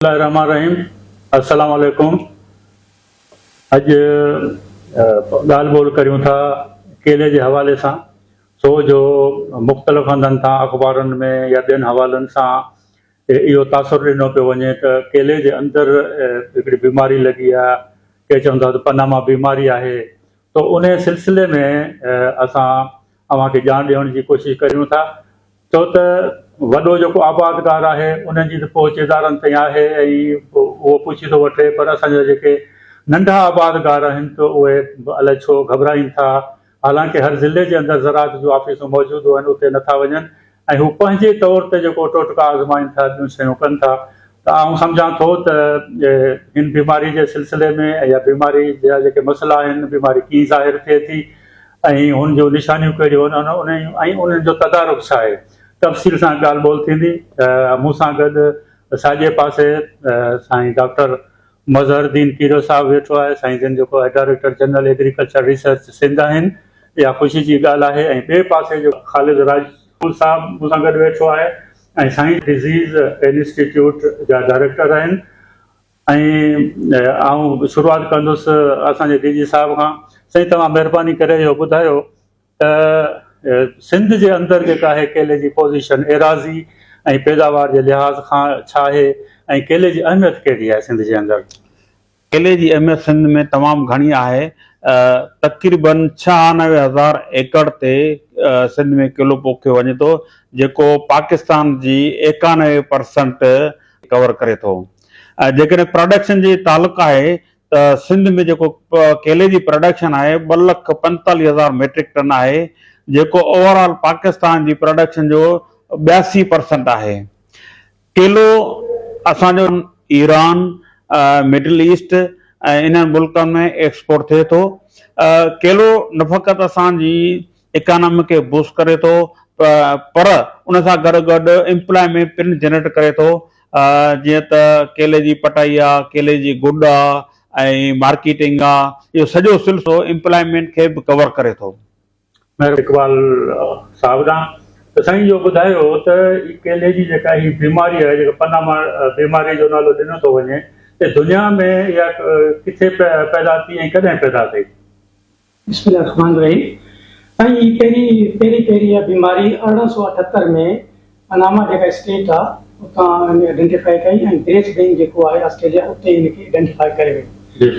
الله الرحمٰن الرحيم السلام عليڪم اڄ ڳالهه ٻولهه ڪريون ٿا ڪيلي جي حوالي سان سو جو مختلف هنڌن تان اخبارن ۾ يا ٻين حوالن سان اهو تاثر ڏنو پيو وڃي ته ڪيلي جي اندر هڪڙي بيماري لڳي آهي ڪي چون ٿا ته پناما بيماري آهي ته ان سلسلي ۾ اسان اوهان کي ڄاڻ ڏيڻ جي ڪوشش ڪريون ٿا ڇو ته وڏو جيڪو آبادگار آهي ان جي ته پهچ ادارن تائين آهي ۽ اهو پڇي ٿو وٺي پر اسان جا جيڪي ننڍا آبادگار آهن ته اهي به الائي ڇو گهٻرائين ٿا حالانڪه هر ضلعي جي اندر زراعت جون آفيسون موجود هئن اتي نٿا وڃن ۽ هو پنهنجي طور تي جيڪو ٽوٽڪا آزمائين ٿا ٻيون شيون ڪن ٿا ته آئون سمجهان ٿو ته هن بيماري جي سلسلي ۾ يا بيماري جا جيڪي مسئلا آهن، بيماري ڪيئن ظاهر ٿئي ٿي ۽ هن جون نشانيون ڪهڙيون آهن ۽ انهن جو تدارڪ ڇا آهي، تفصيل سان ڳالهه ٻولهه ٿيندي. مون سان گڏ ساڄي پاسي سائين ڊاڪٽر مظهر الدين پيرو صاحب ويٺو آهي، سائين جن جيڪو director general agriculture research Sindh آهن، اها خوشي جي ڳالهه آهي ۽ ٻئي پاسي جيڪو خالد راڄ مون صاحب مون سان گڏ ويٺو آهي ۽ سائين ڊزيز انسٽيٽيوٽ جا ڊائريڪٽر آهن ۽ آئون شروعات ڪندس اسان جي ڊي جي صاحب کان سائين توهان مهرباني ڪري اهو ٻڌايو ته سنڌ جي اندر جيڪا آهي ڪيلي جي پوزيشن ايراضي ۽ پيداوار جي لحاظ کان ڇا آهي ۽ ڪيلي جي اهميت ڪهڙي آهي سنڌ جي اندر. ڪيلي جي اهميت سنڌ ۾ تمام گهڻي آهي، تقريباً ڇهانوي هزار ايڪڙ تي سنڌ ۾ ڪيلو پوکيو وڃي ٿو، جيڪو پاڪستان جي ايڪانوي پرسنٽ ڪور ڪري ٿو. جيڪڏهن پراڊڪشن جي تعلق آهي ته سنڌ ۾ جيڪو ڪيلي جي پراڊڪشن آهي ٻه لک پنجيتاليهه هزار ميٽرڪ ٽن آهي، جيڪو اوورآل پاڪستان جي پراڊڪشن جو ٻياسي پرسنٽ آهي. ڪيلو اسان جو ايران، مڊل ايسٽ ۽ انهن ملڪن ۾ ايڪسپورٽ ٿئي ٿو. ڪيلو نه فقط اسان جي اڪانامي کي بوسٽ ڪري ٿو پر ان سان گڏ گڏ امپلائمينٽ پڻ جنريٽ ڪري ٿو جيئن ته ڪيلي جي پٽائي آ، ڪيلي جي گڏ آ ۽ مارڪيٽنگ آ اهو سڄو سلسلو امپلائمينٽ کي به ڪور ڪري ٿو. مير اقبال صاحب ڏانهن ته سائين اهو ٻڌايو ته هي ڪيلي جي جيڪا هي بيماري آهي جيڪا پناما بيماري جو نالو ڏنو ٿو وڃي ته دنيا ۾ اها ڪٿي پيدا ٿي ۽ ڪڏهن پيدا ٿي؟ بسم الله الرحمٰن الرحيم سائين هي پهرين پهرين پهرين اها بيماري ارڙهن سؤ اٺهتر ۾ پناما جيڪا اسٽيٽ آ اتان هن ائڊينٽيفائي ڪئي ۽ گريس بينڪ جيڪو آهي آسٽريليا اتي هن کي ائڊينٽيفائي ڪري وئي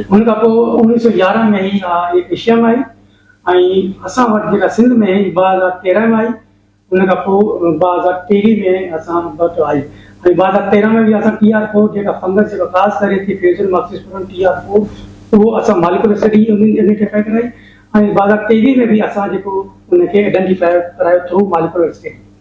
ان کان پوء اوڻيهه سؤ يارهن ۾ هي آ ايشيا ۾ آئي ۽ اسان وٽ جيڪا سنڌ ۾ هي ٻه هزار تيرهن ۾ آئي ان کان پوء ٻه هزار ٽيهي ۾ اسان وٽ آئي ۽ ٻه هزار تيرهن ۾ به اسان ٽي آر فور جيڪا فنگس جيڪا خاص ڪري ٿي فيوجن ماڪسيسپورن ٽي آر فور اهو اسان ماليڪولر اسٽڊي انهن جي ائڊينٽيفائي ڪرائي ۽ ٻه هزار ٽيويهه ۾ به اسان جيڪو ان کي ائڊينٽيفائي ڪرايو ٿرو ماليڪولر اسٽڊي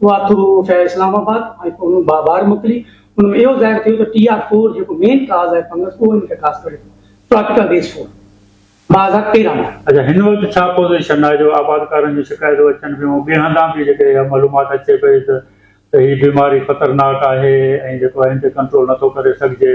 اها ٿرو افيئر اسلام آباد ۽ پوء ان مان ٻاهر موڪلي، ان ۾ اهو ظاهر ٿيو ته ٽي آر فور جيڪو مين ڪاز آهي فنگس اهو ان کي خاص ڪري ٿو، ٽراپيڪل ريس فور، ٻه هزار تيرهن ۾. اچا هن وقت ڇا پوزيشن آهي جو آبادڪارن جون شڪايتون اچن پيون ۽ ٻين هنڌان به جيڪڏهن اها معلومات اچي پئي ته ته هي بيماري خطرناڪ آهي ۽ جيڪو آهي ان تي ڪنٽرول نٿو ڪري سگهجي.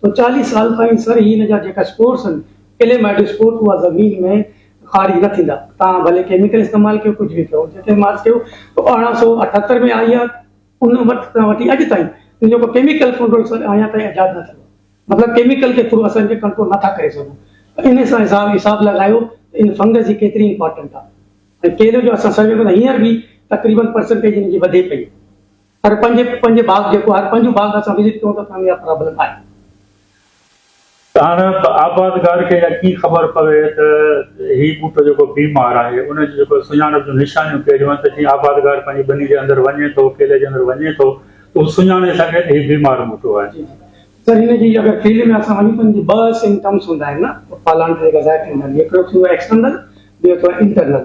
تو چاليهه سال تائين سر هي هن جا جيڪا اسپورس هن ڪلي مائٽو اسپورٽ اها زمين ۾ خارج نه ٿيندا تان ڀلي ڪيميڪل استعمال ڪيو ڪجهه به ڪيو جتي مارس ڪيو تو ارڙهن سو اٺهتر ۾ آئي آهي ان وقت کان وٺي اڄ تائين ان جو ڪو ڪيميڪل ڪنٽرول سر اڃا تائين ايجاد نه ٿيو مطلب ڪيميڪل جي ٿرو اسان کي ڪنٽرول نه ٿا ڪري سگهون ان سان حساب حساب لڳايو ان فنگس جي ڪيتري امپارٽنٽ آهي ۽ ڪيلي جو اسان سرجو ڪري هينئر به تقريبن پرسنٽيج ان جي وڌي پئي هر پنهنجي پنهنجي باغ جيڪو هر پنهنجو باغ اسان وزٽ ڪيون ته اسان جي اها پرابلم آهي. هاڻ آبادگار کي اها ڪي خبر پوي ته هي ٻوٽو جيڪو بي مار آهي ان جي جيڪو سڃاڻپ جون نشانيون ڪهڙيون آهن ته جيئن آبادگار پنهنجي ٻني جي اندر وڃي ٿو ڪيلي جي اندر وڃي ٿو ته هو سڃاڻي سگهي ته هي بيمار ٻوٽو آهي. جي جي سر هن جي اگر ڪيلي ۾ اسان وڃون ته ان جي ٻه سمپٽمس هوندا آهن نه ڦالڻ جي جيڪا ظاهر ٿيندا آهن هڪڙو ٿيندو آهي ايڪسٽرنل ٻيو ٿيندو آهي انٽرنل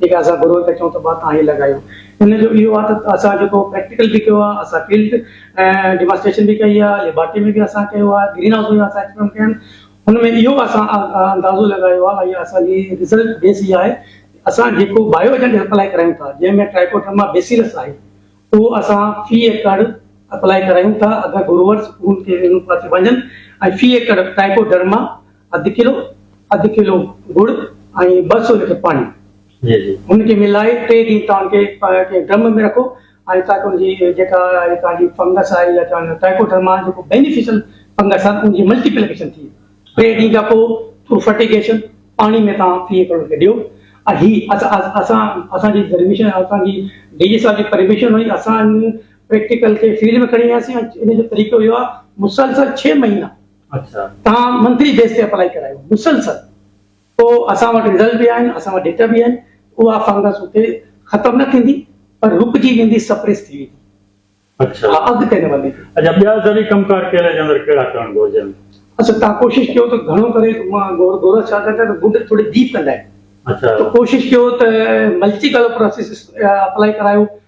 جيڪي اسان گروء کي چئون ته ڀاء توهان هي لڳايو. ان جو اهو آهي ته اسان جيڪو پريڪٽيڪل به ڪيو آهي، اسان فيلڊ ڊيمانسٽريشن به ڪئي آهي، ليبارٽري ۾ به اسان ڪيو آهي، گرين هائوس ۾ به اسان ايڪسپيرمينٽ ڪيا آهن. ان ۾ اهو اسان اندازو لڳايو آهي ۽ اسان جي رزلٽ بيس اها آهي ته اسان جيڪو بايو ايجنٽ اپلائي ڪرايون ٿا، جنهن ۾ ٽرائيڪوڊرما بيسيلس آهي، اهو اسان في ايڪڙ اپلائي ڪرايون ٿا. اگر گروئرز ان کي ان پاسي وڃن ۽ في ايڪڙ ٽرائيڪوڊرما اڌ ڪلو اڌ ڪلو گڙ ۽ ٻه سو ليٽر پاڻي ان کي ملائي ٽي ڏينهن تان کي ڪنهن ڊرم ۾ رکو ۽ تاڪ ان جي جيڪا تان جي فنگس آهي يا چون ٽائيڪوڊرما جيڪو بينيفيشل فنگس آهي ان جي ملٽيپليڪيشن ٿي ٽي ڏينهن کان پوء ٿرو فرٽيگيشن پاڻي ۾ تان فيئي ڪرو کي ڏيو هي اسان اسان جي پرميشن اسان جي ڊي جي صاحب جي پرميشن هئي اسان پريڪٽيڪل کي فيلڊ ۾ کڻي وياسين ان جو طريقو اهو آهي مسلسل ڇهه مهينا توهان منٿلي بيس تي اپلائي ڪرايو مسلسل تو اسان وٽ رزلٽ به آهن اسان وٽ ڊيٽا به آهن اها فنگس اتي ختم نه ٿيندي پر رڪجي ويندي سپريس ٿي ويندي اچا اها اڳتي نه وڌندي اچا ٻيا ذري ڪم ڪار ڪيلي جي اندر ڪهڙا ڪرڻ گهرجن اچا تان ڪوشش ڪيو ته گهڻو ڪري مان گور گورا ڇا ڪرڻ ته گنڊ ٿوري ڊيپ ڪندا آهن اچا تو ڪوشش ڪيو ته ملٽي ڪلر پروسيس اپلائي ڪرايو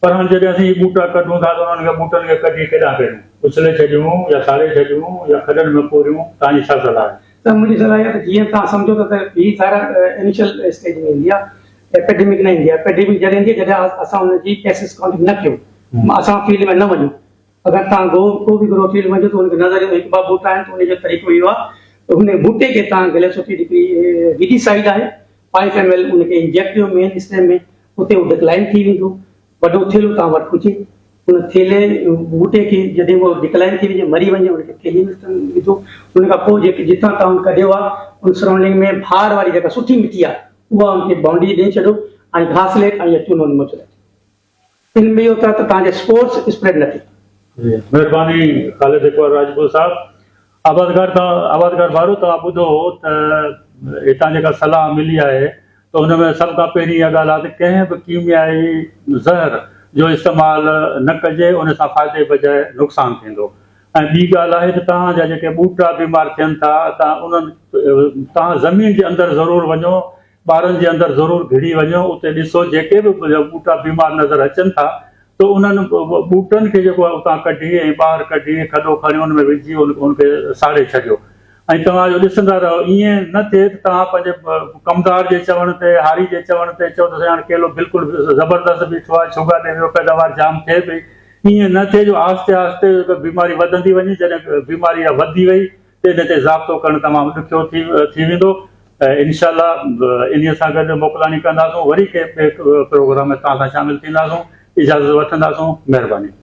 پر هاڻ جڏهن اسين اهي ٻوٽا ڪڍون ٿا ته انهن کي ٻوٽن کي ڪڍي ڪيڏانهن ڪريون؟ اڇلي ڇڏيون يا ساڙي ڇڏيون يا کڏن ۾ پوريون؟ توهان جي ڇا صلاح آهي؟ سر منهنجي صلاح اها آهي ته جيئن توهان سمجهو ٿا ته هي ٿائرائڊ انيشل اسٽيج ۾ ايندي آهي ايپيڊيمڪ نه ايندي آهي ايپيڊيمڪ جڏهن ايندي آهي جڏهن اسان ان جي ڪيسز ڪائونٽنگ نه ڪيون اسان فيلڊ ۾ نه وڃون اگر توهان گو ڪو به گروء فيلڊ وڃو ته ان کي نظر ايندو هڪ ٻه ٻوٽا آهن ته ان جو طريقو اهو آهي ته هن ٻوٽي کي توهان گليسوفيڊ هڪڙي ويڊي سائيڊ آهي فائيو ايم ايل ان کي انجيڪٽ ڪيو مين اسٽيم ۾ اتي هو ڊڪلائن ٿي ويندو. وڏو ٿيلهو توهان وٽ هجي. ان ٿيلهي ٻوٽي کي جڏهن به ڊڪلائن ٿي وڃي، مري وڃي، ان کي ٿيلهي ۾ وجهو. ان کان پوء جيڪي جتان توهان ڪڍيو آهي، ان سرائونڊنگ ۾ ڀار واري جيڪا سٺي مٽي آهي، اها ان کي بائونڊري ڏئي ڇڏيو ۽ گهاس ليٽ ۽ يا چونو نمو چلائي ڇڏيو. ان ۾ اهو ٿئي ته توهان جا اسپورز اسپريڊ نه ٿين. مهرباني خالد اقبال راڄپور صاحب. آبادگار تان آبادگار وارو توهان ٻڌو ته هتان جيڪا صلاح ملي آهي ته ان ۾ سڀ کان پهرين اها ڳالهه آهي ته ڪنهن به ڪيميائي زهر جو استعمال نه ڪجي ان سان فائدي بجاء نقصان ٿيندو ۽ ٻي ڳالهه آهي ته توهان جا جيڪي ٻوٽا بيمار ٿين ٿا ته انهن توهان زمين جي اندر ضرور وڃو ٻارن جي اندر ضرور گهڙي وڃو اتي ڏسو جيڪي به ٻوٽا بيمار نظر اچن ٿا ته انهن ٻوٽن کي جيڪو آهي اتان ڪڍي ۽ ٻاهر ڪڍي کڏو کڻي ان ۾ وجهي ان کي ساڙي ڇڏيو ۽ توهان جو ڏسندا رهو ائين نه ٿئي ته توهان پنهنجي ڪمدار جي چوڻ تي هاري جي چوڻ تي چئو ته سائين هاڻي ڪيلو بلڪل زبردست بيٺو آهي ڇوگا ڏي ويو پيداوار جام ٿئي پئي ائين نه ٿئي جو آهستي آهستي بيماري وڌندي وڃي جڏهن بيماري اها وڌي وئي ان تي ضابطو ڪرڻ تمام ڏکيو ٿي ويندو انشاء الله انهي سان گڏ موڪلاڻي ڪنداسون وري ڪنهن ٻئي پروگرام ۾ توهان سان شامل ٿينداسون اجازت وٺنداسون مهرباني.